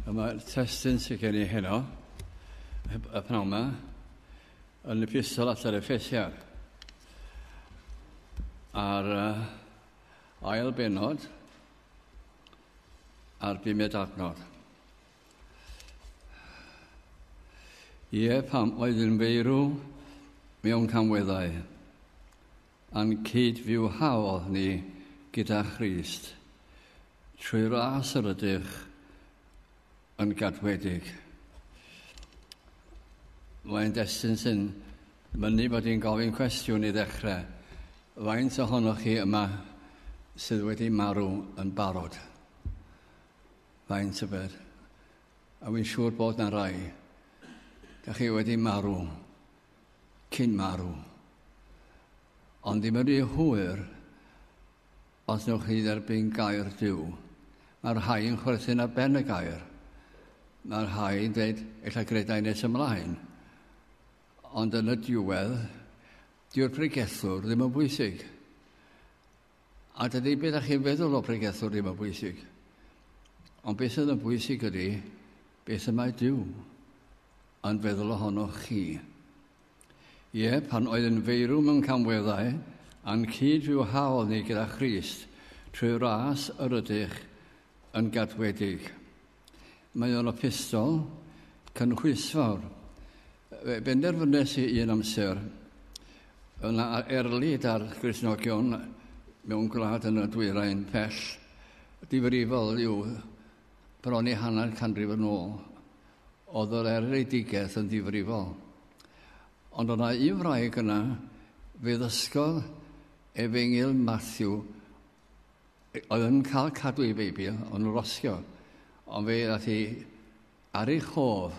A mae'r testyn sydd gen i heno, y pnawn yma, yn y pistol at yr effesiad. A'r uh, ail benod a'r bumed adnod. Ie, pam oedd yn feirw mewn camweddau. A'n cyd-fyw haodd ni gyda Christ, trwy ras yr ydych yn gadwedig. Mae'n destun sy'n mynnu bod i'n gofyn cwestiwn i ddechrau. Faint ohonoch chi yma sydd wedi marw yn barod? Faint y bed? A wy'n siŵr bod na rai. Da chi wedi marw. cyn marw. Ond ddim yn rhy hwyr os newch chi dderbyn gair Duw. Mae'r rhai yn chwerthin ar ben y gair. Mae'r rhai yn dweud, ella gredau nes ymlaen. Ond yn y diwedd, diw'r pregethwr ddim yn bwysig. A dydy beth ydych chi'n feddwl o bregethwr ddim yn bwysig. Ond beth sydd yn bwysig ydy beth y mae Dyw yn feddwl ohonoch chi. Ie, pan oedd yn feirw mewn camweddau, a'n cyd fyw haol ni gyda Christ, trwy ras yr ydych yn gadwedig. Mae o'n opestol, cynhwysfawr. Fe benderfynes i un amser yna erlid ar Gristnogion mewn gwlad yn y dwyrain pell difrifol yw bron i hanner canrif yn ôl. Oedd yr erledigaeth yn ddifrifol. Ond yna un wraig yna fe ddysgodd Efengyl Matthew Oedd yn cael cadw ei Beibl, ond yn rosio. Ond fe ddaeth i ar ei chof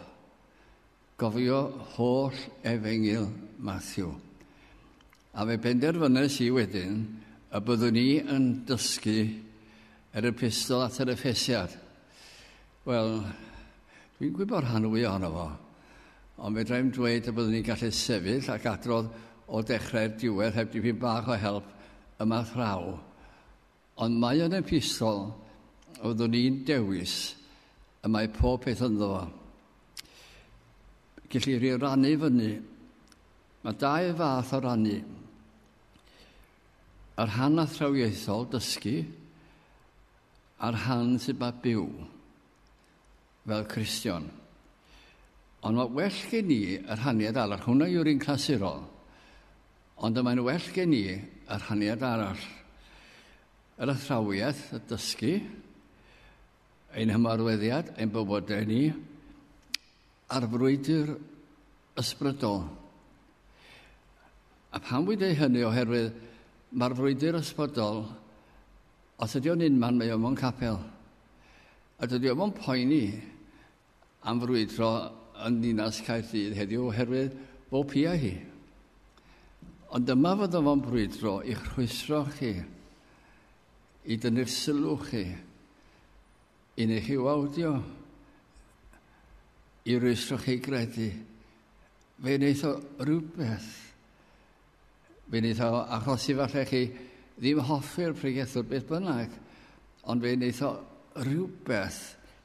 gofio holl efengyl Matthew. A fe benderfynais i wedyn y byddwn i yn dysgu yr epistol at yr Effesiad. Wel, dwi'n gwybod rhan fwy ohono fo, ond fedra i'n dweud y byddwn i'n gallu sefyll ac adrodd o dechrau'r diwedd heb dipyn bach o help yma thraw. Ond mae yn epistol fyddwn i'n dewis y mae pob peth ynddo fo. Gellir ei rannu fyny. Mae dau fath o rannu. Yr hannathrawiaethol dysgu a'r rhan sydd ba byw fel Cristion. Ond mae well gen i y rhaniad arall. Hwna yw'r un clasurol. Ond y mae'n well gen i y rhaniad arall. Yr athrawiaeth, y dysgu, ein hymarweddiad, ein bywodau ni, a'r frwydr ysbrydol. A pam wy'n dweud hynny oherwydd mae'r frwydr ysbrydol Os ydy o'n unman mae o mewn capel. A dydy o ddim yn poeni am frwydro yn ddinas Caerdydd heddiw oherwydd bo pia hi. Ond dyma fod o fo'n brwydro i'ch rhwystro chi, i dynnu'r sylw chi, i neu chi wawdio, i rwystro chi gredu. Fe wneith o rhywbeth Fe wnaeth o achosi falle chi ddim hoffi'r pregethwr beth bynnag, ond fe wnaeth o rhywbeth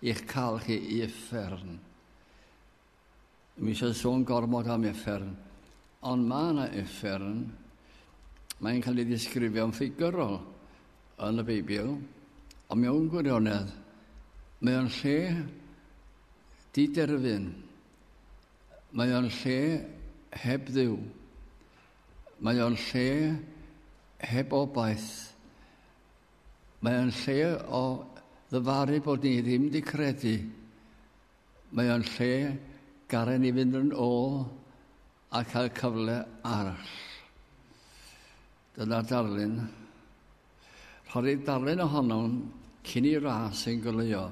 i'ch cael chi i effern. Mi eisiau sôn gormod am effern, ond mae yna effern, mae'n cael ei ddisgrifio'n ffigurol yn y Beibl, ond mewn gwirionedd, mae o'n lle diderfyn, Mae o'n lle heb dduw. Mae o'n lle heb obaith. Mae o'n lle o ddyfaru bod ni ddim di credu. Mae o'n lle garen ni fynd yn ôl a cael cyfle arall. Dyna darlun. Rhoddir darlun ohonom cyn i'r ras ein goleuo.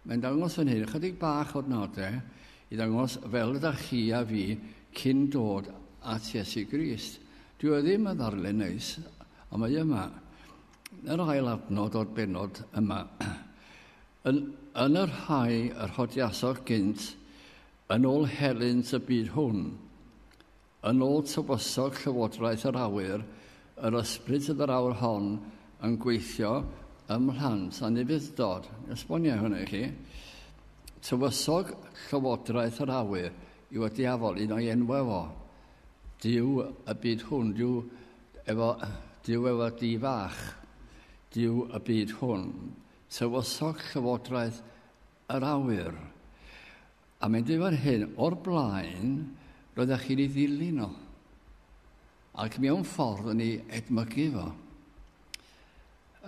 Mae'n dangos fan hyn ychydig bach o'r nodau i ddangos fel ydych chi a fi cyn dod at Iesu Grist. Dyw e ddim yn ddarlun neis, ond mae yma. Yr ail adnod o'r benod yma. Yn, yn y rhai yr hodiasoch gynt, yn ôl helynt y byd hwn. Yn ôl tywysog Llywodraeth yr Awyr, yr ysbryd sydd yr awr hon yn gweithio ym mhlant anufudd-dod. Esboniai hwnna i chi. Tywysog Llywodraeth yr Awyr yw y diafol, un o'i enwau fo. Dyw y byd hwn, dyw efo, dyw efo di fach, dyw y byd hwn. Tywysog Llywodraeth yr awyr. A mae'n dweud fan hyn, o'r blaen, roeddech chi'n ei ddilyn o. Ac mewn ffordd yn ei edmygu fo.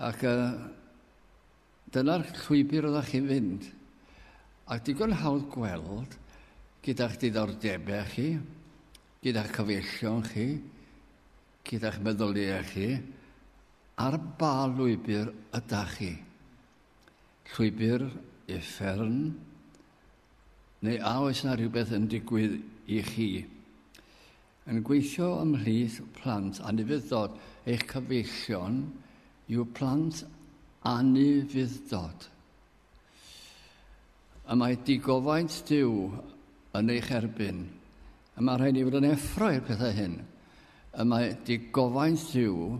Ac uh, dyna'r llwybr oeddech chi'n fynd. Ac digon hawdd gweld gyda'ch diddordebau chi, gyda'ch cyfeillion chi, gyda'ch meddyliau chi, ar ba lwybr ydych chi. llwybr uffern? Neu a oes na rhywbeth yn digwydd i chi? Yn gweithio ymhlith plant anufuddod, eich cyfeillion yw plant anufuddod. Y mae digofaint Dyw yn eich erbyn. Y mae rhaid i fod yn effro i'r pethau hyn. Y mae digofaint Dyw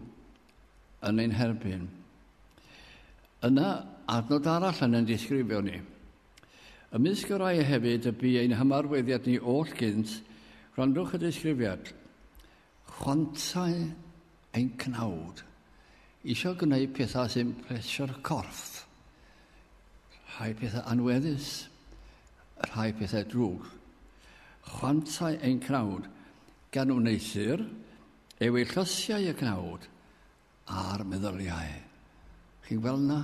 yn ein herbyn. Yna, adnod arall yn ein disgrifio ni. Ymysg y rai hefyd y bu ein hymarweddiad ni oll gynt, gwrandwch y disgrifiad. Chwantau ein cnawd, eisiau gwneud pethau sy'n plesio'r corff. Rhai pethau anweddus, rhai pethau drwg. Chwantau ein cnawd, gan wneuthur, yw ei llysiau y cnawd a'r meddyliau. Chi'n gweld na?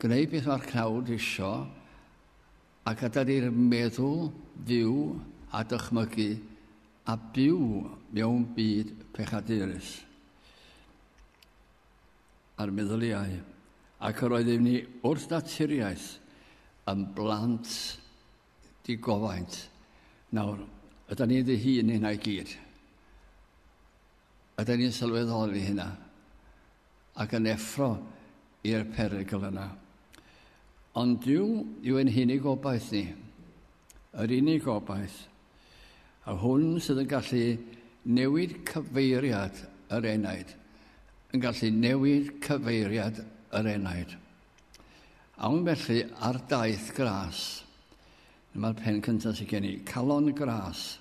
Gwneud beth mae'r cnawd isio a gadael i'r meddwl fyw a dychmygu a byw mewn byd pechadurus. A'r meddyliau. Ac yr oeddwn ni wrth naturiaeth yn blant di gofaint. Nawr, ydy ni'n ddihun hynna i gyd. Ydy ni'n sylweddoli hynna. Ac yn effro i'r perygl yna. Ond Dyw yw ein hunig obaith ni. Yr unig obaith. A hwn sydd yn gallu newid cyfeiriad yr enaid. Yn gallu newid cyfeiriad yr enaid. Awn felly ar daith gras. Dyma'r pen cyntaf sydd gen i, calon gras.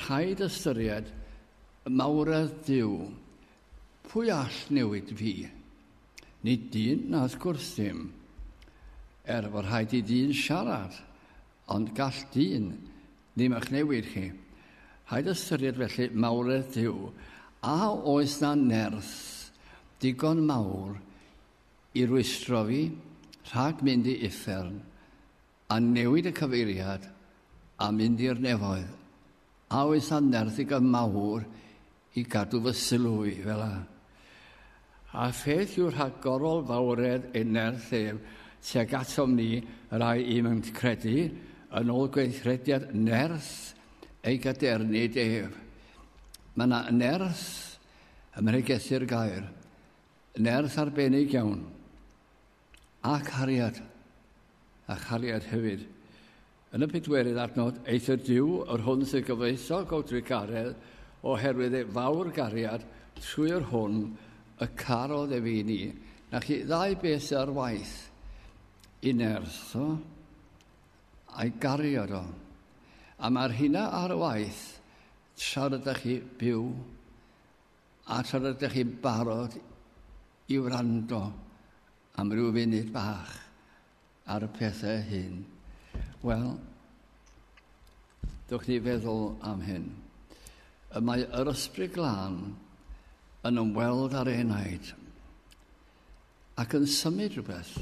Rhaid ystyried y mawredd Dyw. Pwy all newid fi? Nid dyn na wrth gwrs ddim. Er fod rhaid i dyn siarad, ond gall dyn ddim eich newid chi. Rhaid ystyried felly mawredd Dyw. A oes na nerth digon mawr i rwystro fi rhag mynd i uffern a newid y cyfeiriad a mynd i'r nefoedd, a oes am nerth i gam mawr i gadw fy sylw i fel a? A pheth yw rhag gorol fawredd ei nerth ef tuag atom ni rai i'm yn credu yn ôl gweithrediad nerth ei gadernid ef. Mae yna nerth ym mhregethur gair, Nerth arbennig iawn. A cariad. A chariad hefyd. Yn y pedwerydd adnod, eithr Duw yr hwn sydd gyfoethog o drugaredd, oherwydd ei fawr gariad, trwy yr hwn y carodd ef i ni, na chi ddau beth ar waith, i nerth o, a'i gariad o. A mae'r hynna ar waith, tra rydych chi byw A tra rydych chi'n barod i wrando am ryw funud bach ar y pethau hyn, wel, dwch ni feddwl am hyn. Y mae yr ysbryd glân yn ymweld â'r enaid ac yn symud rhywbeth.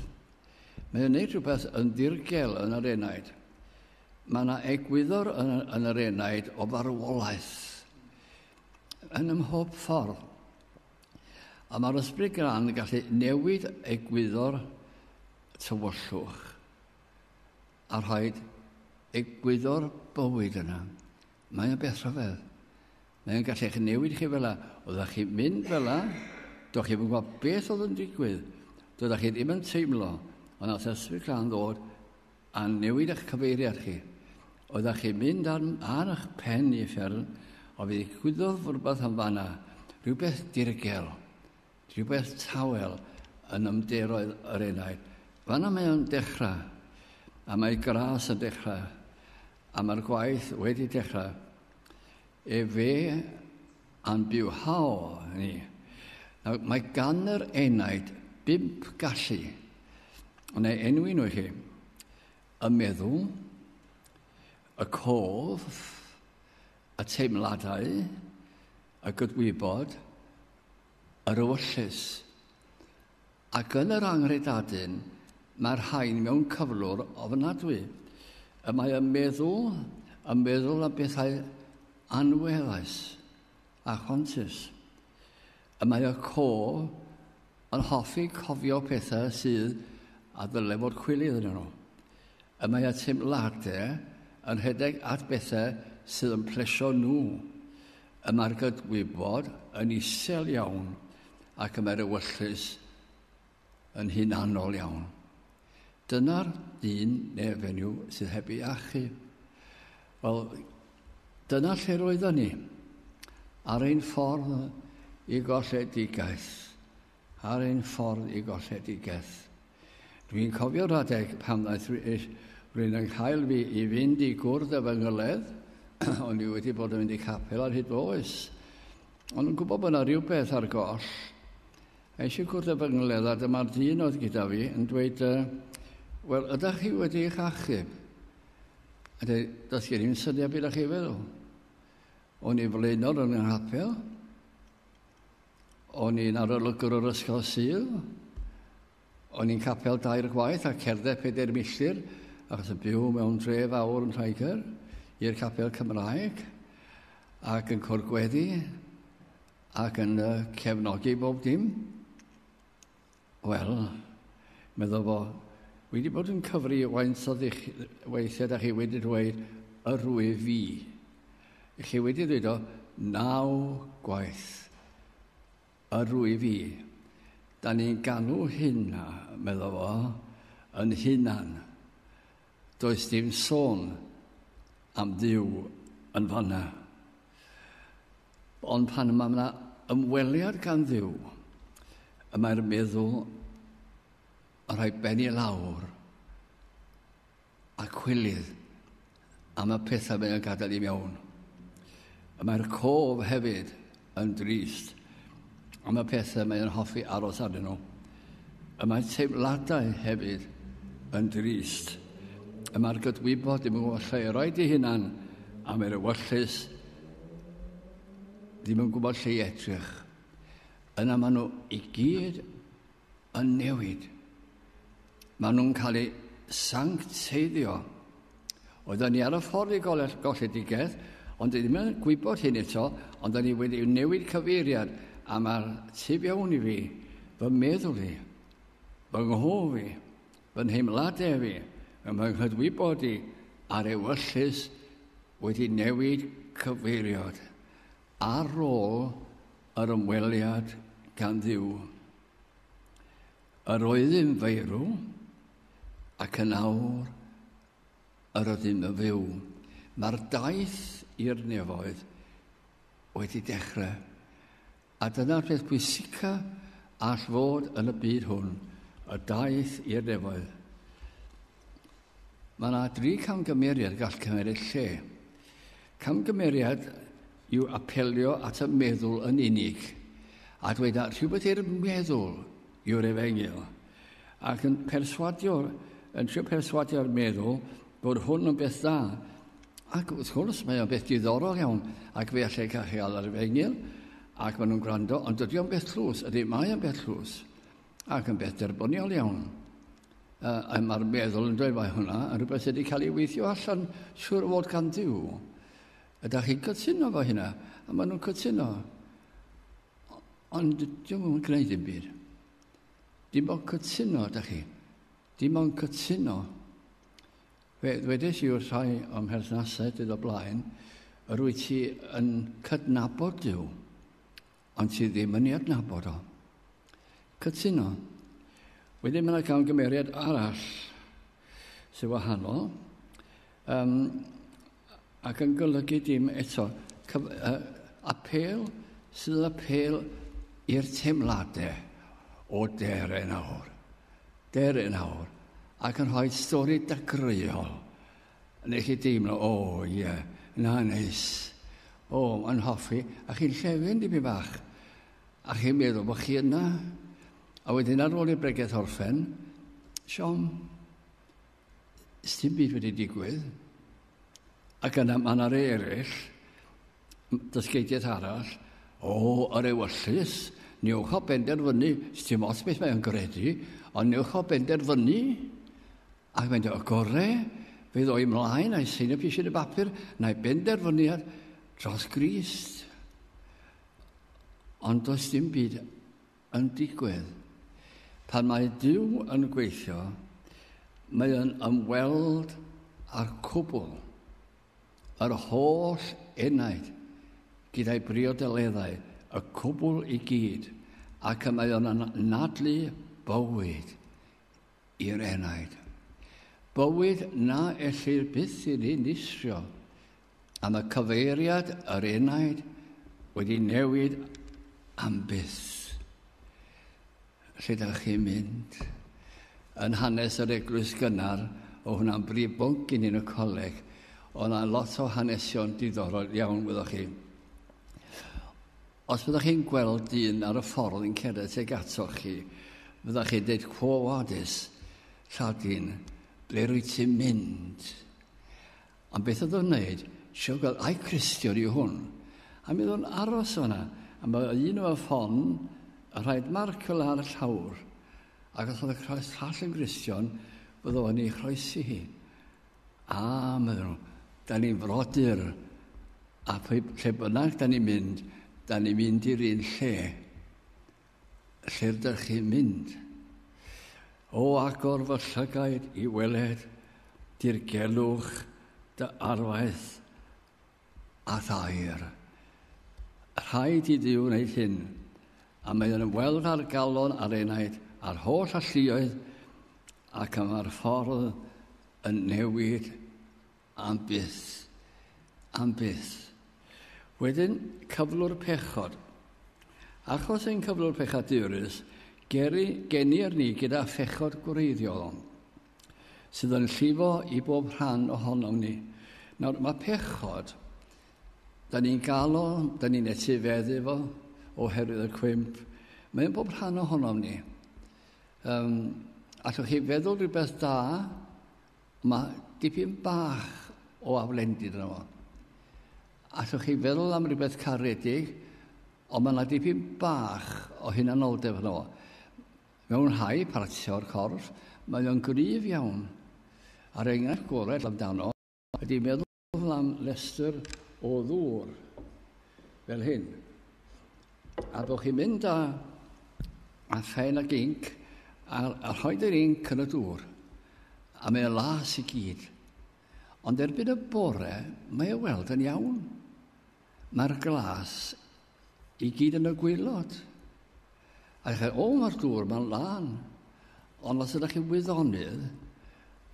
Mae'n gwneud rhywbeth yn ddirgel yn yr enaid. Mae yna egwyddor yn, yn yr enaid o farwolaeth. yn ymhob ffordd. A mae'r ysbryd gran yn gallu newid egwyddor tywyllwch a rhoi egwyddor bywyd yna. Mae'n beth rhyfedd. Mae'n gallu eich newid chi fel la. Oeddech chi'n mynd fel la, do'ch chi'n gwybod beth oedd yn digwydd. Doeddech chi ddim yn teimlo, ond nath ysbryd gran ddod a newid eich cyfeiriad chi. Oeddech chi'n mynd ar, ar eich pen i fferm, o fe ddigwyddodd rhywbeth yn fanna, rhywbeth dirgel, rhywbeth tawel yn ymderoedd yr enaid. Fanna mae o'n dechrau, a mae gras yn dechrau, a mae'r gwaith wedi dechrau. Efe A'n byw haw ni. Nawr, mae gan yr enaid bump gallu. Ond ei enwi nhw i chi. Y meddwl, y cof, y teimladau, y gydwybod yr ewyllys, ac yn yr anghredadun mae'r rhain mewn cyflwr ofnadwy. Y mae y meddwl yn meddwl am bethau anweddus a chwantus. Y mae y co yn hoffi cofio pethau sydd a ddyle fod cwilydd yn nhw. Y mae y teimladau yn rhedeg at bethau sydd yn plesio nhw. Y mae'r gydwybod yn isel iawn ac y mae'r ewyllys yn hunanol iawn. Dyna'r dyn neu fenyw sydd heb ei achu. Wel, dyna lle roedden ni, ar ein ffordd i golledigaeth. Ar ein ffordd i golledigaeth. Dwi'n cofio rhadeg pan ddaeth rhywun yn cael fi i fynd i gwrdd â fy ngyledd, o'n i wedi bod yn mynd i capel ar hyd oes. Ond yn gwybod bod yna rhywbeth ar goll. A eisiau gwrdd â fy ngyledd a dyma'r dyn oedd gyda fi yn dweud, wel, ydych chi wedi eich achub? A dweud, does gen i'n syniad beth ydych chi feddwl. O'n i flaenol yn yng nghapel, O'n i'n arolygwr o'r Ysgol Sul. O'n i'n capel dair gwaith a cerdded pedair milltir achos yn byw mewn dre fawr yn Lloegr i'r capel Cymraeg ac yn cwrdd gweddi ac yn uh, cefnogi bob dim. Wel, meddwl fo, wi wedi bod yn cyfri waint o ddych weithiau da chi wedi dweud yr wyf fi. I chi wedi dweud o naw gwaith yr wyf fi. Da ni'n galw hynna, meddwl fo, yn hunan. Does dim sôn am Dduw yn fanna. Ond pan mae yna ymweliad gan Dduw, y mae'r meddwl yn rhoi ben i lawr a cwilydd am y pethau mae'n gadael i mewn. Y mae'r cof hefyd yn drist am y pethau mae'n hoffi aros arnyn nhw. Y mae teimladau hefyd yn drist. Y mae'r gydwybod ddim yn gwybod lle i roi di hunan am yr ewyllus ddim yn gwybod lle i edrych. Yna maen nhw i gyd yn newid. Maen nhw'n cael eu sancteiddio. Oedden ni ar y ffordd i golledigaeth, ond ddim yn gwybod hyn eto, ond da ni wedi newid cyfeiriad a mae'r tu fewn i fi, fy meddwl i, fy nghof i, fy nheimladau fi, fy nghydwybod i a'r ewyllys wedi newid cyfeiriad ar ôl Yr ymweliad gan Dduw. Yr oeddym feirw, ac yn awr yr ydym yn fyw. Mae'r daith i'r nefoedd wedi dechrau. A dyna'r peth pwysica all fod yn y byd hwn, y daith i'r nefoedd. Mae yna dri camgymeriad gall cymeriad lle. Camgymeriad yw apelio at y meddwl yn unig, a dweud na rhywbeth i'r meddwl yw'r efengyl, ac yn perswadio, yn trio perswadio'r meddwl bod hwn yn beth dda. Ac wrth gwrs, mae o'n beth diddorol iawn, ac fe allai cael ei alw ar efengyl, ac maen nhw'n gwrando, ond dydy o'n beth tlws, ydy, mae o'n beth tlws. Ac yn beth derbyniol iawn. Uh, Mae'r meddwl yn dweud mae hwnna yn rhywbeth sydd wedi cael ei weithio allan siwr fod gan ddiw. Ydych chi'n cytuno fo hynna? A maen nhw'n cytuno. Ond dwi'n mwyn gwneud dim byd. Dim ond cytuno, ydych chi. Dim ond cytuno. Fe ddwedais i wrth rhai o'm herthnasau dydd o blaen, yr wyt ti yn cydnabod Dyw. ond sydd ddim yn ei adnabod o. Cytuno. Wedyn mae yna camgymeriad arall sy'n wahanol um, ac yn golygu dim eto. Cyf, uh, apel sydd yn apel i'r teimladau o der yn awr. Der yn awr. Ac yn rhoi stori dagreuol Nes i deimlo, o ie, na neis. O, yn hoffi, a chi'n llefyn dipyn bach. A chi'n meddwl bod chi yna. A wedyn ar ôl i'r bregeth orffen, siom, dim byd wedi digwydd. Ac yna mae yna rei eraill, dysgeidiaeth arall, o, yr ewyllus, newch o benderfynu, dim ots beth mae'n gredu, ond newch o benderfynu Ac mae'n dweud, y gorau fydd o'i mlaen a'i sy'n y pisiau y bapur na'i benderfyniad dros Grist. Ond does dim byd yn digwydd. Pan mae Dyw yn gweithio, mae yn ymweld â'r cwbl, yr holl enaid, gyda'i briodoleddau, y cwbl i gyd, ac y mae yn anadlu bywyd i'r enaid. Bywyd na ellir byth ei ddinistrio am y cyfeiriad yr enaid wedi newid am byth. Lle da chi'n mynd? Yn hanes yr eglwys gynnar, o hwnna'n brif bwnc i ni yn y coleg, ond yna lot o hanesion diddorol iawn, wyddoch chi. Os fyddwch chi'n gweld dyn ar y ffordd yn cerdded tuag atoch chi, fyddwch chi'n dweud, Quo vadis, Lladin, ble rwyt ti'n mynd? Am beth oedd o'n wneud? Sio gweld, ai Cristion yw hwn? A mi oedd o'n aros o'na, a mae un o'r ffon yn rhaid marcel ar y llawr, ac os oedd y croes llall yn Gristion, bydd o'n ei chroesi hi. A, medden nhw, da ni'n frodyr, a lle bynnag da ni'n mynd, da ni'n mynd i'r un lle, lle rydych chi'n mynd. O agor fy llygaid i weled dirgelwch dy arwaith a thair. Rhaid i Dduw wneud hyn, a mae yn ymweld â'r galon a'r enaid a'r holl alluoedd ac am ar ffordd yn newid am byth, am byth. Wedyn, cyflwr pechod. Achos ein cyflwr pechadurus, geri, genir ni gyda phechod gwreiddiol. sydd yn llifo i bob rhan ohonom ni. Nawr, mae pechod, da ni'n galo, da ni'n etifeddu fo, oherwydd y cwymp, mae'n bob rhan ohonom ni. Um, allwch chi feddwl rhywbeth da, mae dipyn bach o aflendid yna fo. Allwch chi feddwl am rhywbeth caredig, ond mae yna dipyn bach o hunanoldeb yna fo. Mewn rhai partiau o'r corff, mae o'n gryf iawn. A'r enghraifft gorau amdano ydy meddwl am restr o ddŵr, fel hyn, a bod chi'n mynd â phen ac inc a rhoid yr inc yn y dŵr, a mae o'n las i gyd. Ond erbyn y bore, mae o weld yn iawn. Mae'r glas I gyd yn y gwylod. A chi, o mae'r dŵr, mae'n lan. Ond os ydych chi'n wyddonydd,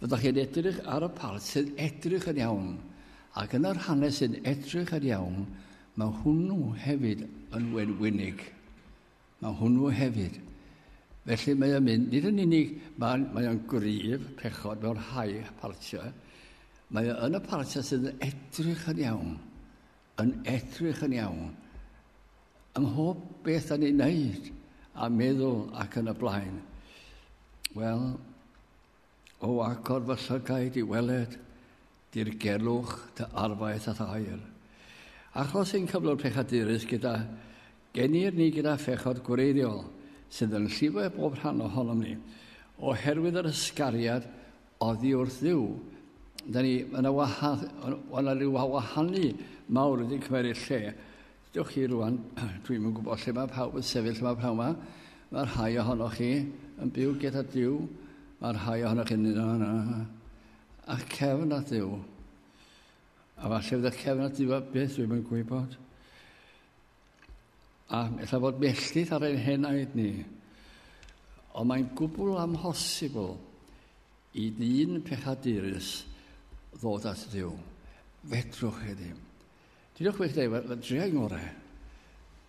fyddwch chi'n edrych ar y part sy'n edrych yn iawn. Ac yn yr hanes sy'n edrych yn iawn, mae hwnnw hefyd yn wenwynig. Mae hwnnw hefyd. Felly mae o'n mynd, nid yn unig, mae, mae o'n gryf, pechod mewn rhai partiau, mae o yn y partiau sydd yn edrych yn iawn. yn edrych yn iawn, ym mhob beth yn ei wneud a meddwl ac yn y blaen. Wel, o agor fy llygaid i weled, dirgelwch dy arfaeth a thair. Achos ein cyflwr pechadurus gyda genir ni gyda phechod gwreiddiol sydd yn llifo bob rhan ohonom ni, oherwydd yr ysgariad Oddi wrth Dduw. Da ni, mae yna waha, o na rhyw wahanu mawr wedi cymeriad lle. Dewch chi rwan, dwi'n yn gwybod lle mae pawb yn sefyll yma pnawn yma. Mae rhai ohonoch chi yn byw gyda Dyw. Mae rhai ohonoch chi'n mynd yna. A cefn at Dyw. A falle fydda cefn at Dyw a beth dwi'n yn gwybod. A ella fod melltith ar ein henaid ni. Ond mae'n gwbl amhosibl i dyn pechadurus ddod at Dduw. Fedrwch chi ddim. Dydwch chi ddim, dreau ngorau.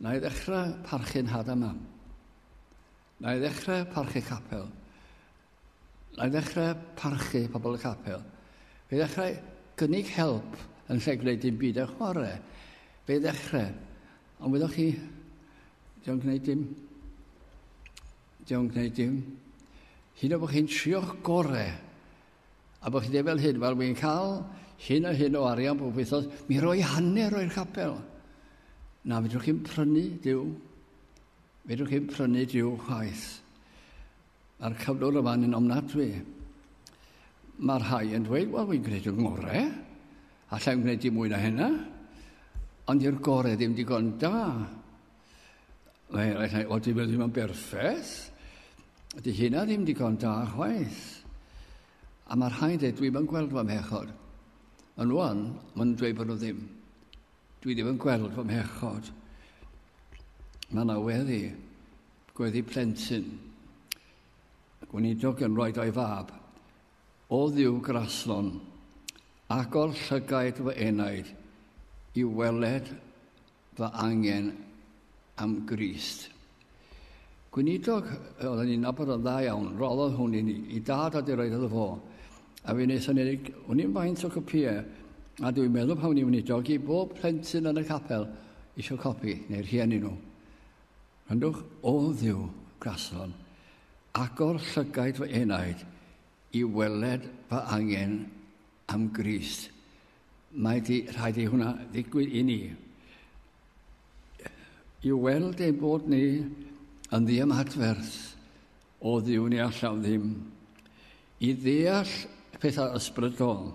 Na i ddechrau parchu'n had am am. Na i ddechrau parchu capel. Na i ddechrau parchu pobl y capel. Fe ddechrau gynnig help yn lle gwneud dim byd ar chwarae. Fe ddechrau. Ond wyddoch chi, diolch yn gwneud dim. Diolch yn gwneud dim. Hyn o bod chi'n trio'ch gore. A bod chi ddim fel hyn, wel, wy'n cael hyn a hyn o arian bob wythnos, mi roi hanner o'r capel. Na, fedrwch chi'n prynu, diw. Fedrwch chi'n prynu diw chwaith. Mae'r cyflwr yma yn ofnadwy. Mae'r rhai yn dweud, wel, fi'n gwneud yn ngore. Allai'n gwneud i mwy na hynna. Ond i'r gore ddim digon da. Mae eraill yn dweud, dim ddim yn berffeth. Ydy hynna ddim digon da chwaith. A mae'r rhai'n dweud, dwi'n yn gweld fy mhechod. Ond rwan, maen nhw'n dweud bod nhw ddim. Dwi ddim yn gweld fy mhechod. Mae yna weddi, gweddi plentyn. Gweinidog yn rhoi o'i fab. O ddiw graslon, agor llygaid fy enaid i weled fy angen am Grist. Gweinidog oedden ni'n nabod o'n dda iawn, roddodd hwn i ni, i dad a di roed iddo fo. A fi nes o'n enig, o'n i'n faint o copïau, a dwi'n meddwl pan o'n i'n weinidog i bob plentyn yn y capel eisiau copi, neu'r rhieni nhw. Rhandwch, o ddiw, grason, agor llygaid fy enaid i weled fy angen am Grist. Mae di, rhaid i hwnna ddigwydd i ni. I weld ein bod ni yn ddiymadferth o ddiw ni allaf ddim. I ddeall pethau ysbrydol,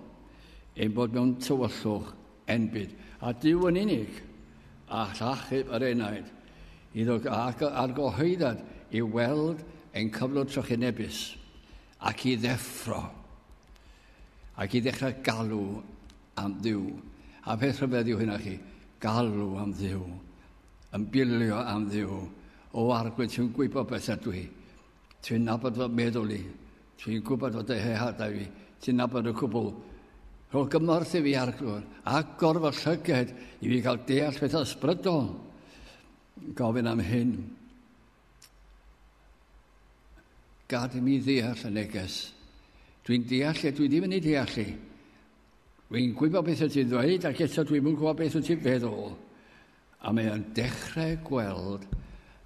ein bod mewn tywyllwch enbyd, a diw yn unig, a llachub yr enaid, iddo argyhoeddad i weld ein cyflwr trychinebus. Ac i ddeffro, ac i ddechrau galw am ddiw. A peth rhyfedd yw hynna chi, galw am ddiw, yn bilio am ddiw. O arglwydd, ti'n gwybod beth ydw i. Ti'n nabod fy meddwl i. Ti'n gwybod fod y hehadau fi. Ti'n nabod y cwbl. Rho gymorth i fi arglwydd, ac gorfod llyged i fi gael deall pethau ysbrydol. Gofyn am hyn. Gad i mi ddeall y neges. Dwi'n deall e, dwi ddim yn ei deall e. Dwi'n gwybod beth wyt ti'n ddweud ac eto dwi'n yn gwybod beth wyt ti'n feddwl. A mae o'n dechrau gweld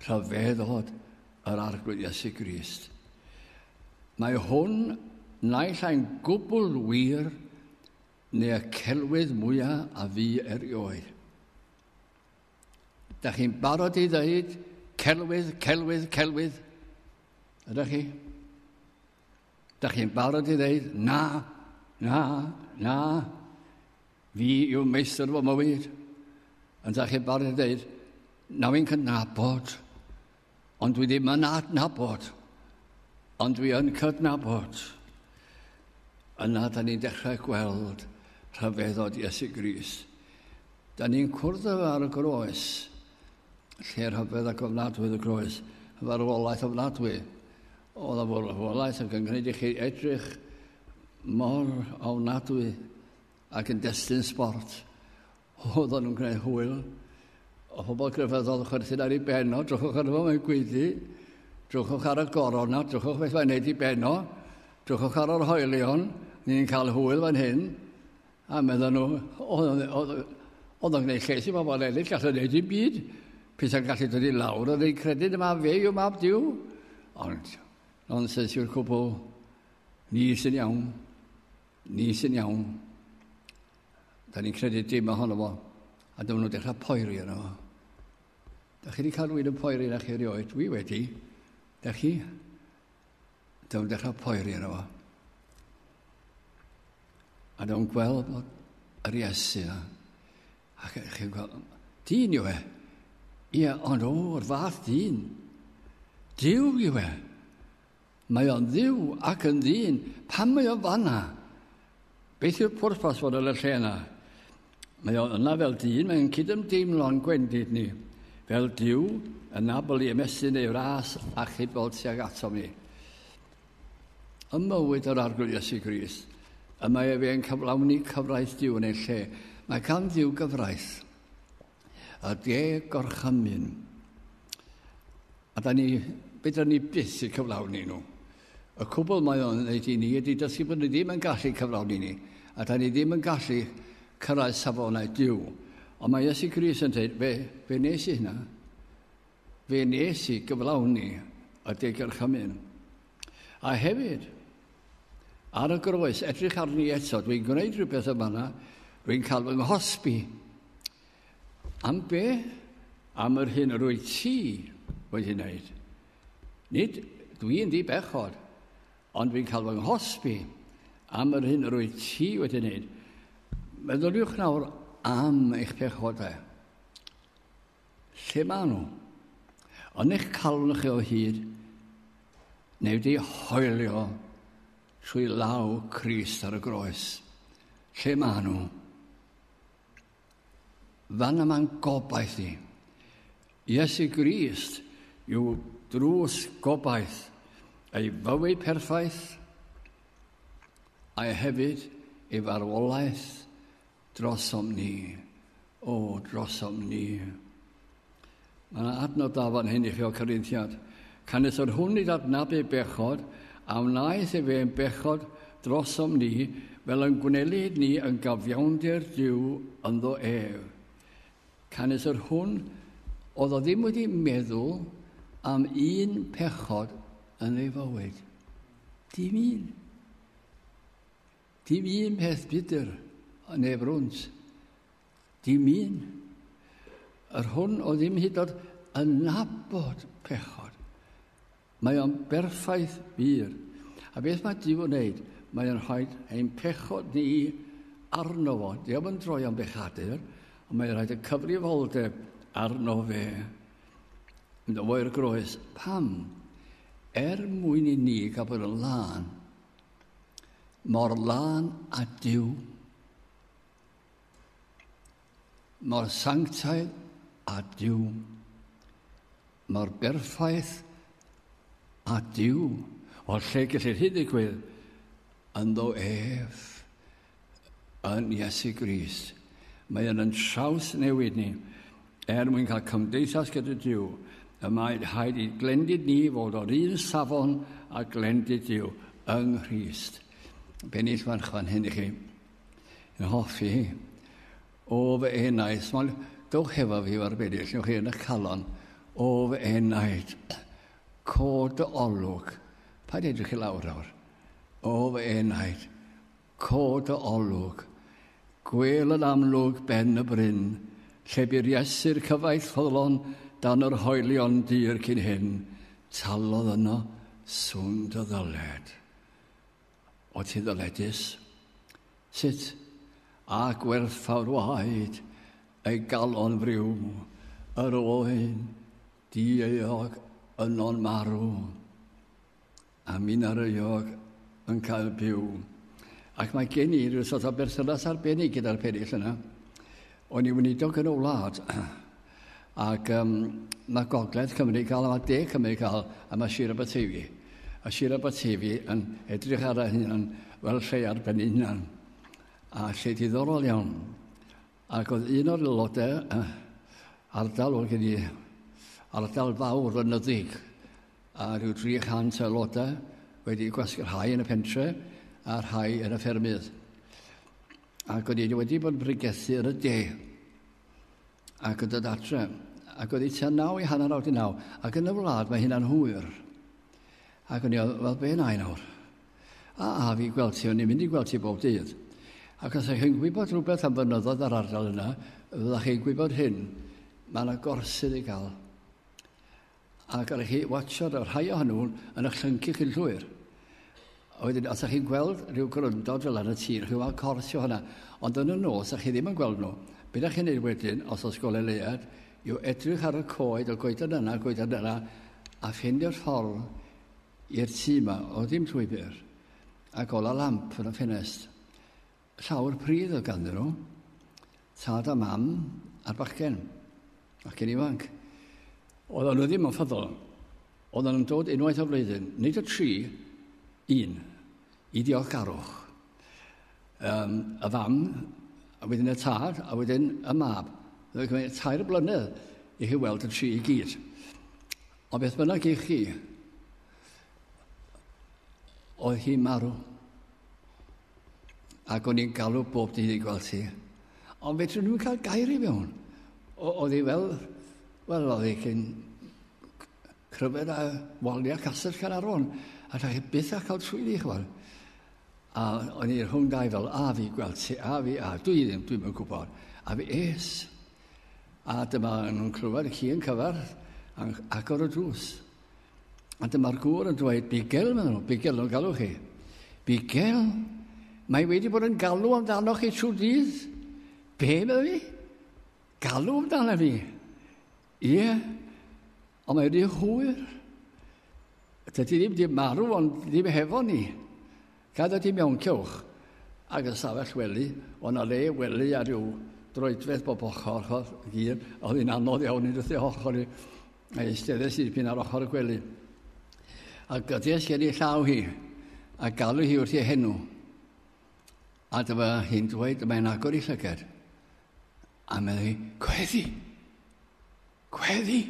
rhyfeddod yr arglwydd Iesu Grist. Mae hwn naill ai'n gwbl wir neu y celwydd mwyaf a fu erioed. Da chi'n barod i ddeud celwydd, celwydd, celwydd? Ydych chi? Da chi'n barod i ddeud na, na, na, fi yw meistr fy mywyd? Ond da chi'n barod i ddeud, na fi'n cydnabod Ond dwi ddim yn adnabod, ond dwi yn cydnabod. Yna, da ni'n dechrau gweld rhyfeddod Iesu Gris. Da ni'n cwrdd efo ar y groes, lle rhyfedd ac ofnadwy y groes, farwolaeth ofnadwy. Oedd y farwolaeth ac yn gwneud i chi edrych mor ofnadwy ac yn destun sport. Oedden nhw'n gwneud hwyl o pobl grefyddol yn chwerthin ar ei ben o, drychwch arno fo, mae'n gweiddi, drychwch ar y goron na, drychwch beth mae'n neud i ben o, drychwch ar yr hoelion, ni'n cael hwyl fan hyn, a meddyn nhw, oedd o'n gwneud lles i bobl eraill, gallwn neud i'n byd, pethau'n gallu dod i lawr, oedd ein credyd yma fe yw mab diw, ond nonsens yw'r cwbl, ni sy'n iawn, ni sy'n iawn. Da ni'n credu dim ohono fo, a dyma nhw'n dechrau poeri yno fo. Da chi wedi cael rwy'n yn poeri na chi erioed? Dwi wedi. Da chi? Dyma nhw'n dechrau poeri yno fo. A dyma nhw'n gweld bod yr Iesu yna. A chi'n gweld, dyn yw e. Ie, ond o'r fath dyn. Dyw yw e. Mae o'n dduw ac yn ddyn, pam mae o fanna? Beth yw'r pwrpas fod yn y lle yna? Mae o yna fel dyn, mae'n cydymdeimlo'n gwendid ni, fel Duw, yn abl i ymestyn ei fras a chudfol tuag atom ni. Ym mywyd yr arglwydd Iesu Gris, y mae efe yn cyflawni cyfraith Duw yn ei lle. Mae gan Dduw gyfraith. a de gorchymyn. A da ni, be da ni byth i cyflawni nhw. Y cwbl mae o'n gwneud i ni ydy dysgu bod ni ddim yn gallu cyflawni ni, a da ni ddim yn gallu cyrraedd safonau diw. Ond mae Iesu Gris yn dweud, fe, fe nes i hynna. Fe nes i gyflawni y de gorchymyn. A hefyd, ar y groes, edrych arni eto, dwi'n gwneud rhywbeth yma na, dwi'n cael fy nghosbi. Am be? Am yr hyn yr wyt ti wedi wneud. Nid dwi'n di bechod, ond dwi'n cael fy nghosbi am yr hyn yr wyt ti wedi wneud. Meddyliwch nawr am eich pechodau. Lle maen nhw? Yn eich calon chi o hyd, neu wedi hoelio trwy law Crist ar y groes. Lle maen nhw? Fan yma'n gobaith i. Iesu Grist yw drws gobaith ei fywyd perffaith a hefyd ei farwolaeth Drosom ni. O, drosom ni. Mae yna adnod da fan hyn i chi o Corinthiad. Canys yr hwn i ddadnabu bechod, a wnaeth e fe'n bechod drosom ni, fel yn gwnelid ni yn gafiawnder Dyw ynddo ef. Canys yr hwn oedd o ddim wedi meddwl am un pechod yn ei fywyd. Dim un. Dim un peth budr yn ei frwnt. Dim un. Yr hwn o ddim hyd oed yn nabod pechod. Mae o'n berffaith wir. A beth mae Dyw yn neud? Mae o'n rhoi ein pechod ni arno fo. Dyw yn droi o'n bechadur, ond mae'n rhaid y cyfrifoldeb arno fe. Yn oer groes. Pam? Er mwyn i ni gael bod yn lân. mor lân a Duw, mor sanctaidd a Duw, mor berffaith a Duw. Wel, lle gellir hyn ddigwydd? Ynddo ef. yn Iesu Grist. Mae yn yn traws newid ni er mwyn cael cymdeithas gyda Dyw. Y mae rhaid i glendid ni fod o'r un safon a glendid Dyw yng Nghrist. Bennill fan chwan hyn i chi. Yn hoffi hi. O fy enaid, mae'n dowch hefo fi o'r bennill, ywch chi yn y calon. O fy enaid, cod dy olwg. Pa edrych i lawr awr? O fy enaid, Cod dy olwg. Gwel yn amlwg ben y bryn, lle bu Iesu'r cyfaill ffyddlon dan yr hoelion dur cyn hyn, talodd yno swn dy ddyled. O ti ddyledus? Sut? A gwerthfawrwaid ei galon friw, yr oen dieuog yno'n marw. A mi na ryog yn cael byw. Ac mae gen i rhyw sort o berthynas arbennig gyda'r perill yna. O'n i weinidog yn y wlad. Ac um, mae gogledd Cymru cael, mae de Cymru cael, a mae Sir Aberteifi. A Sir Aberteifi yn edrych ar ei hunan fel lle ar ben hunan. A lle diddorol iawn. Ac oedd un o'r aelodau, uh, ardal oedd gen i, ardal fawr o nyddig, a rhyw 300 aelodau wedi gwasgu'r rhai yn y pentre a rhai yn y ffermydd. Ac oedd wedi wedi bod yn bregethu yn y de. Ac yn dod adre. Ac oedd wedi tua naw i hanner awr di naw. Ac yn y wlad mae hynna'n hwyr. Ac o'n i, wel, be na i nawr? A, a fi gweld ti, o'n i'n mynd i gweld ti bob dydd. Ac os ydych chi'n gwybod rhywbeth am fynyddoedd yr ardal yna, fyddwch chi'n gwybod hyn. Mae yna gorsydd i gael. Ac ar chi watsio'r y rhai ohonyn nhw'n yn y llyncu chi'n llwyr. A wedyn, os ydych chi'n gweld rhyw gryndod fel yn y tir, chi'n gweld cors o hwnna, ond yn y nos, a chi ddim yn gweld nhw, beth ydych chi'n neud wedyn, os oes gole leiad, yw edrych ar y coed, y goeden yna, y goeden yna, a ffeindio'r ffordd i'r tŷ yma, o ddim llwybr, a gola lamp yn y ffenest. Llawr pridd oedd ganddyn nhw, tad a mam a'r bachgen, bachgen ifanc. Oedd nhw ddim yn ffyddol. Oedd nhw'n dod unwaith o flwyddyn, nid y tri, un, i diolchgarwch. Um, y fam, a wedyn y tad, a wedyn y mab. Oedd yn tair blynedd i chi weld y tri i gyd. O beth bynnag i chi, oedd hi marw. ac o'n i'n galw bob dydd i gweld ti. Ond fe trwy'n nhw'n cael gair i fewn. Oedd hi fel, wel, oedd hi cyn cryfed a wali a castell Caernarfon. A da chi byth a cael swyddi, chwal. A o'n i rhwng dau fel, a fi gweld ti, a fi, a dwi ddim, dwi'n mynd gwybod. A fi es. A dyma nhw'n clywed y ci yn cyfarth, agor y drws. A dyma'r gŵr yn dweud, Bigel, maen nhw, Bigel, nhw'n galw chi. Bigel, mae wedi bod yn galw amdano chi trwy dydd. Be, meddwl fi? Galw amdano fi. Ie, yeah. ond mae wedi hwyr. Dydy ddim wedi marw, ond ddim hefo ni. Cadw ti mewn cylch ag ystafell wely, o' 'na le wely a ryw droedfedd bob ochr ochr gur, a oedd hi'n anodd iawn i dwthio ochr i, a eisteddes i dipyn ar ochr y gwely. A gydies gen i llaw hi, a galw hi wrth ei henw. A dyma hi'n dweud, mae'n agor i llyged. A meddwl hi, gweddi! Gweddi!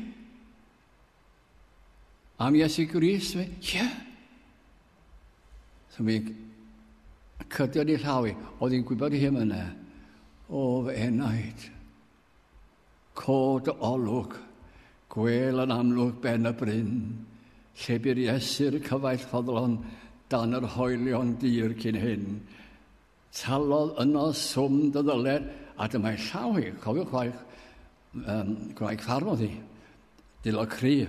Am Iesu Grist, ie. Yeah. So mi cydio ni llaw i, oedd hi'n gwybod i hyn yna. O, fy enaid. Cod o olwg, gwel yn amlwg ben y bryn, lle byr Iesu'r cyfaill ffodlon dan yr hoelion dir cyn hyn, Talodd yno swm dy ddyler, a dyma'i llaw hi, cofiwch chwaith, um, gwraig farfodd hi, dilo cry.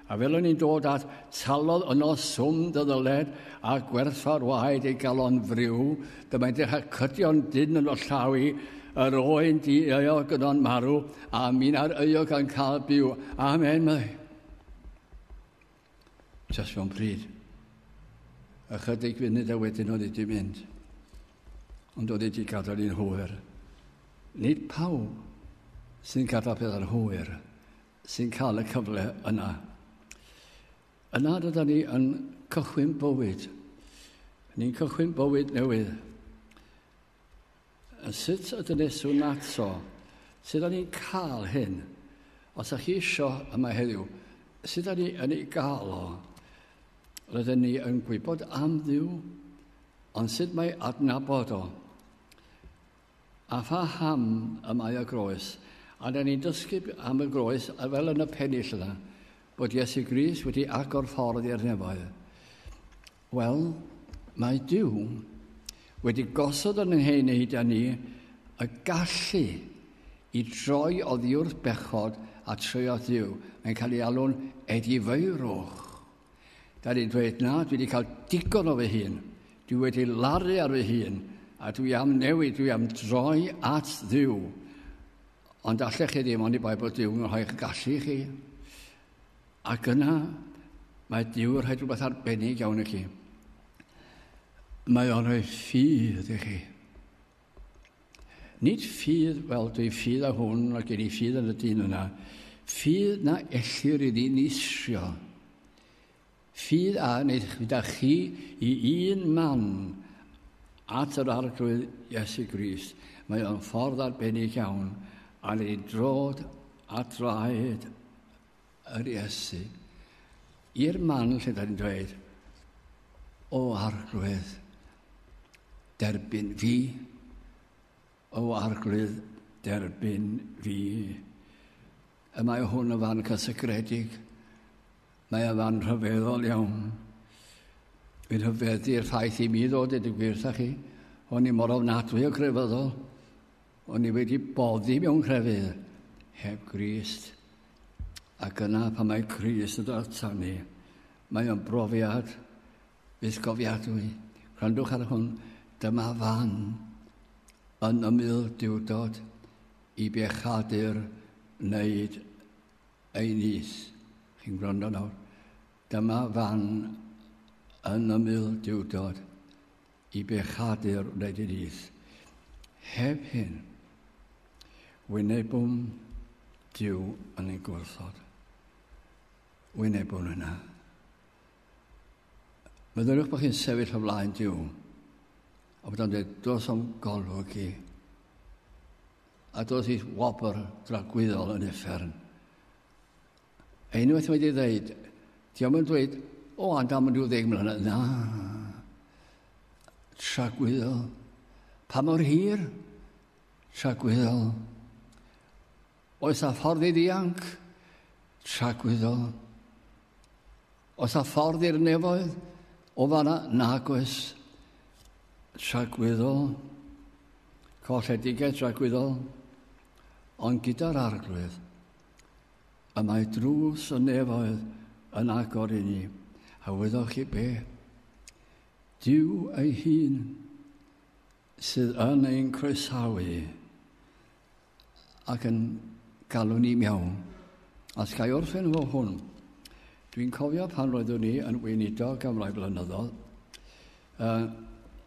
A fel o'n i'n dod at, talodd yno swm dy ddyled, a gwerthfawr waed ei galon friw, dyma'i dechrau cydio'n dyn yn o llaw i, yr oen di euog yn o'n marw, a mi'n ar euog yn cael byw. Amen, mae. Just fo'n pryd. Ychydig funud a wedyn oedd wedi mynd. Ond oedd wedi gadael i'n hwyr. Nid pawb sy'n gadael pethau'n hwyr sy'n cael y cyfle yna. Yna dyda ni yn cychwyn bywyd. Ni'n cychwyn bywyd newydd. A sut y dyneswn ato? Sut o'n i'n cael hyn? Os ydych chi eisiau yma heddiw, sut o'n i'n ei gael o? Rydyn ni yn gwybod am ddiw, ond sut mae adnabod o? A pha ham y mae y groes? A da ni'n dysgu am y groes, a fel yn y pennill yna, bod Iesu Gris wedi agor ffordd i'r nefoedd. Wel, mae Duw wedi gosod yn ei wneud â ni y gallu i droi oddiwrth bechod a troi at Dduw. Mae'n cael ei alw'n edifeirwch. Da ni'n dweud, na, dwi wedi cael digon o fy hun. Dwi wedi laru ar fy hun, a dwi am newid, dwi am droi at ddiw. Ond allech chi ddim ond i bai bod Duw'n rhoi'ch gallu chi. Ac yna, mae Duw yn rhoi rhywbeth arbennig iawn i chi. Mae o'n rhoi ffydd i chi. Nid ffydd fel dwi ffydd a hwn a gen i ffydd yn y dyn yna. Ffydd na ellir i ddyn isio. Ffydd a wneud gyda chi i un man at yr arglwydd Iesu Grist. Mae o'n ffordd arbennig iawn a ni'n drod a draed yr Iesu i'r man lle da ni'n dweud, o arglwydd, derbyn fi, o arglwydd, derbyn fi. Y mae hwn yn fan cysygredig, mae yn fan rhyfeddol iawn. Fi'n hyfeddu'r ffaith i mi ddod i dy gwirth â chi, o'n i mor ofnadwy o grefyddol, O'n i wedi boddi mewn crefydd heb Grist. Ac yna pan mae Crist yn dod ata ni, mae o'n brofiad bythgofiadwy. Rhandwch ar hwn, dyma fan yn ymyl diwdod i bechadur wneud ei nis. Chi'n gwrando nawr? Dyma fan yn ymyl diwdod i bechadu'r wleidyddiaeth. Heb hyn, wynebwn Dyw yn ei gwrthod. Wynebwn hynna. Meddyliwch bod chi'n sefyll o flaen Dyw a bod o'n dweud, dos o'n golwg i, a dos i wobr dragwyddol yn effern, Unwaith mae di ddeud, di am yn dweud, o, a dam yn rhyw ddeg mlynedd, na. Tragwyddo. Pa mor hir? Tragwyddo. Oes a ffordd i ddianc? Tragwyddo. Oes a ffordd i'r nefoedd? O fanna, nag oes. Tragwyddo. Colledigaeth tragwyddo. Ond gyda'r arglwydd. Y mae drws y nefoedd yn agor i ni, a wyddoch chi be? Dyw ei hun sydd yn ein croesawu ac yn galw ni miawn. A sgai orffen fo hwn. Dwi'n cofio pan roeddwn ni yn weinidog am rai blynyddoedd, uh,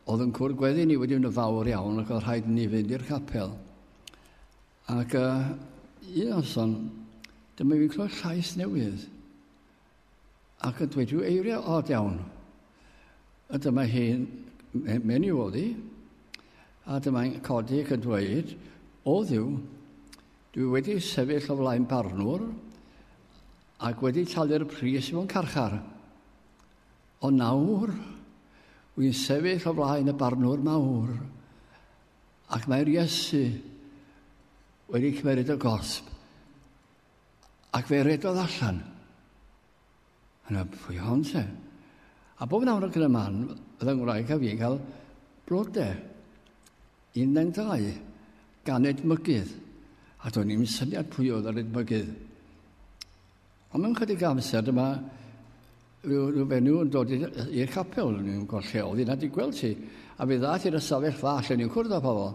oedd yn cwrdd gweddi ni wedi mynd yn fawr iawn ac oedd rhaid ni fynd i'r capel. Ac uh, un noson, dyma fi'n clywed llais newydd. Ac yn dweud rhyw eiriau od iawn. A dyma hi'n mynd i fod i. A dyma'n codi ac yn dweud, o ddiw, dwi wedi sefyll o flaen barnwr ac wedi talu'r pris i fo'n carchar. Ond nawr, wy'n sefyll o flaen y barnwr mawr Ac mae'r Iesu wedi cymeryd y gosb ac fe redodd allan. Yna, pwy hon se? A bob nawr ac yn y man, oedd yng Ngwraeg a fi'n cael blodau. Un neu'n dau, gan edmygydd. A do'n i'n syniad pwy oedd yr edmygydd. Ond mewn chydig amser dyma rhyw, rhyw fenyw yn dod i'r capel, yn gweld lle oedd yna di gweld ti. A fe ddaeth i'r ystafell fach lle ni'n cwrdd â pobl.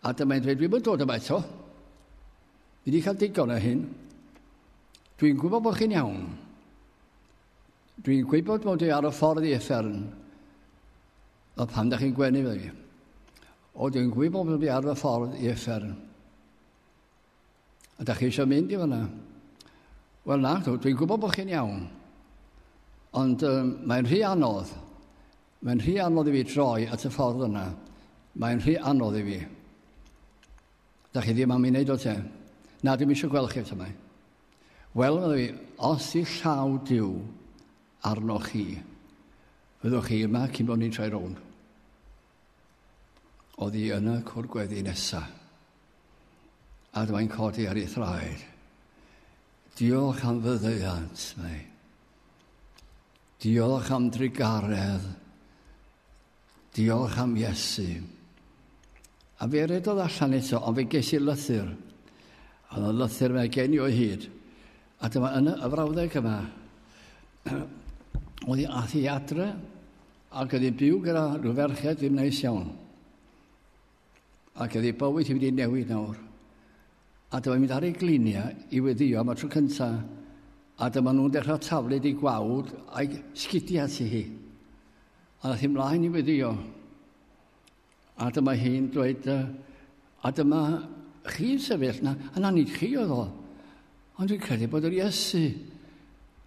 A dyma i'n dweud, dwi'n mynd dod yma eto. Fi wedi cael digon o hyn. Dwi'n gwybod bod chi'n iawn. Dwi'n gwybod bod e ar y ffordd i effern. A pan da chi'n gwenu fe fi. O, dwi'n gwybod bod e ar y ffordd i effern. Ydych chi eisiau mynd i fanna? Wel na, dwi'n gwybod bod chi'n iawn. Ond um, mae'n rhy anodd. Mae'n rhy anodd i fi troi at y ffordd yna. Mae'n rhy anodd i fi. Da chi ddim am ei wneud o te. Na, dwi'n eisiau gweld chi eto mae. Wel, meddwl fi, os i llaw diw arnoch chi, fyddwch chi yma cyn bod ni'n troi rownd. Oddi yn y cwr gweddi nesa. A dwi'n codi ar ei thraed. Diolch am fyddeiant, mae. Diolch am drugaredd. Diolch am Iesu. A fe redodd allan eto, ond fe ges i lythyr. Oedd y lythyr fe gen i o'i hyd. A dyma yn y frawddeg yma. Oedd i ath i adre, Ac oedd hi'n byw gyda rhyw ferched ddim neis iawn. Ac oedd ei bywyd hi wedi newid nawr. A dyma mynd ar ei gliniau i weddio am y tro cyntaf. A dyma nhw'n dechrau taflu di gwawd a'i sgidiau ti hi. A nath hi mlaen i weddio. A dyma hi'n dweud, a dyma chi'n sefyll na, a na nid chi oedd o. Ond dwi'n credu bod yr Iesu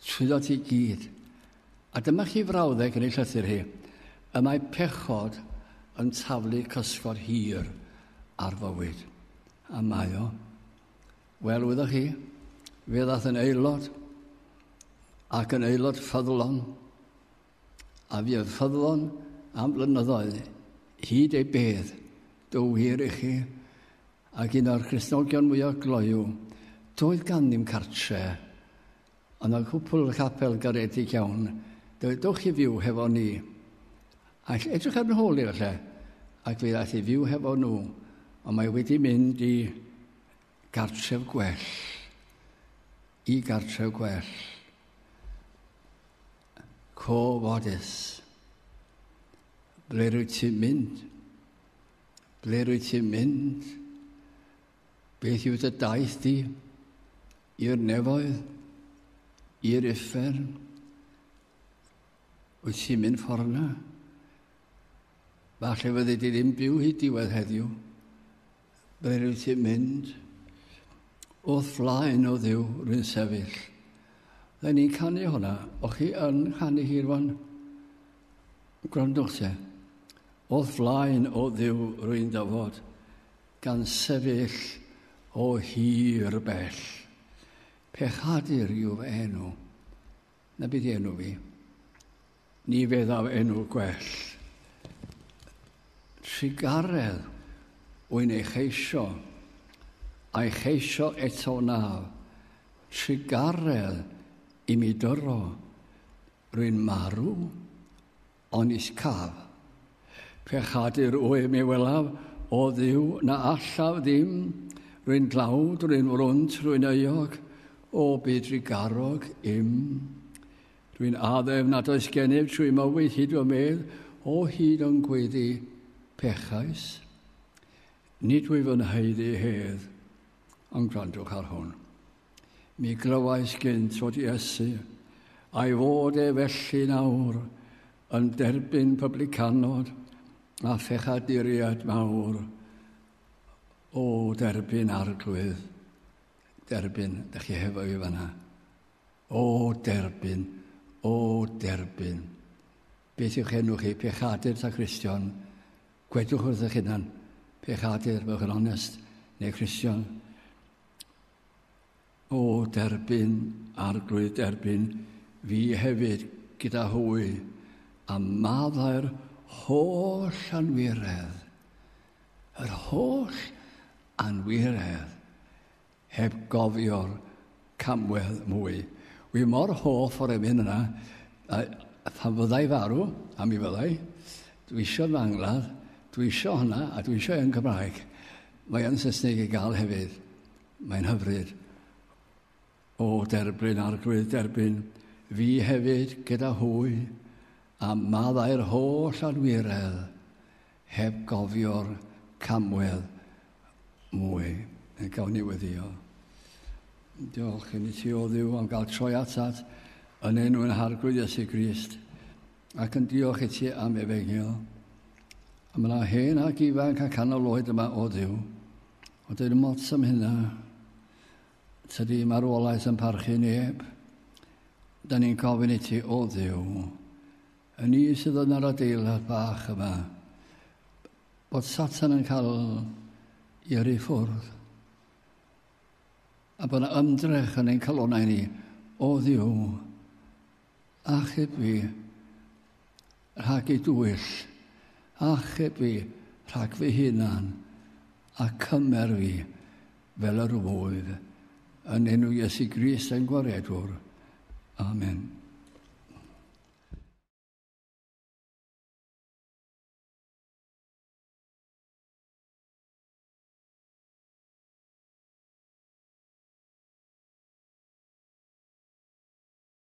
Swyddog i gyd. A dyma chi frawddeg yn ei llythyr hi. Y mae pechod yn taflu cysgod hir ar fywyd. A mae o. Wel, wyddoch chi, fe ddath yn aelod, ac yn aelod ffyddlon, a fi oedd ffyddlon am flynyddoedd, hyd ei bedd, do wir i chi, Ac un o'r Cristnogion mwyaf gloyw, doedd ganddym cartre', ond y cwpl y capel garedig iawn, dywedwch i fyw hefo ni. All edrych ar nhw holi falle, ac fe ddaeth i fyw hefo nhw, ond mae wedi mynd i gartref gwell, i gartref gwell. Co fodus. Ble rwyt ti'n mynd? Ble rwyt ti'n mynd? Beth yw dy daith di? I'r nefoedd? I'r uffern? Wyt ti'n mynd ffordd na? Falle fyddi di ddim byw hyd diwedd heddiw. Ble rwyt ti'n mynd? Wrth flaen o ddiw rwy'n sefyll. Rydyn ni'n canu hwnna. O chi yn canu hi rwan? Gwrandwch te. O'th flaen, O Dduw, rwy'n dyfod, gan sefyll o hir bell. Pechadur yw fy enw, na byd enw fi. Ni feddaf enw gwell. Trigaredd wy'n ei cheisio, a'i cheisio eto na. Trigaredd i mi dyro, rwy'n marw, Onys caf. Pechadur wy mi welaf, o Dduw, na allaf ddim, rwy'n dlawd, rwy'n wrwnt, rwy'n euog, o byd rigarog im. Rwy'n addef nad oes gennyf trwy mywyd hyd fy medd, o hyd o'n gweddi pechais. Nid wyf yn haeddu hedd, ond gwrandwch ar hwn. Mi glywais gynt fod Iesu, a'i fod e felly'n awr, yn derbyn publicanod a phechaduriaid mawr. O, derbyn arglwydd, derbyn, da chi hefo i fanna. O, derbyn, o, derbyn. Beth yw'ch enw chi? Pechadur ta Christian? Gwedwch wrth eich hunan, pechadur, fel yn onest, neu Christian. O derbyn Arglwydd derbyn fi hefyd gyda hwy, a maddau'r holl anwiredd, yr holl anwiredd, heb gofio'r camwedd mwy. Wi mor hoff o'r emyn yna, a phan fyddai farw, a mi fyddai, dwi eisiau fy angladd, dwi eisiau hwnna, a dwi eisiau yn Gymraeg. Mae yn Saesneg i gael hefyd. Mae'n hyfryd. O derbyn arglwydd derbyn, fi hefyd gyda hwy, a maddau'r holl adwiredd, heb gofio'r camwedd mwy. Yn gawn ni weddio. Diolch i ni ti o ddiw am gael troi atat yn enw yn harglwydd Iesu Grist. Ac yn diolch i ti am efegio. A mae yna hen ac ifanc a canol oed yma o ddiw. Ond dyn mots am hynna. Tydi marwolaeth yn parchu neb. Da ni'n gofyn i ti o ddiw. Yn ni sydd yn yr adeilad bach yma. Bod Satan yn cael i yrru ffwrdd. A bod yna ymdrech yn ein calonau ni o ddiw Achub fi rhag ei dwyll, achub fi rhag fy hunan, a cymer fi fel yr wyf, yn enw Iesu Grist ein Gwaredwr. Amen.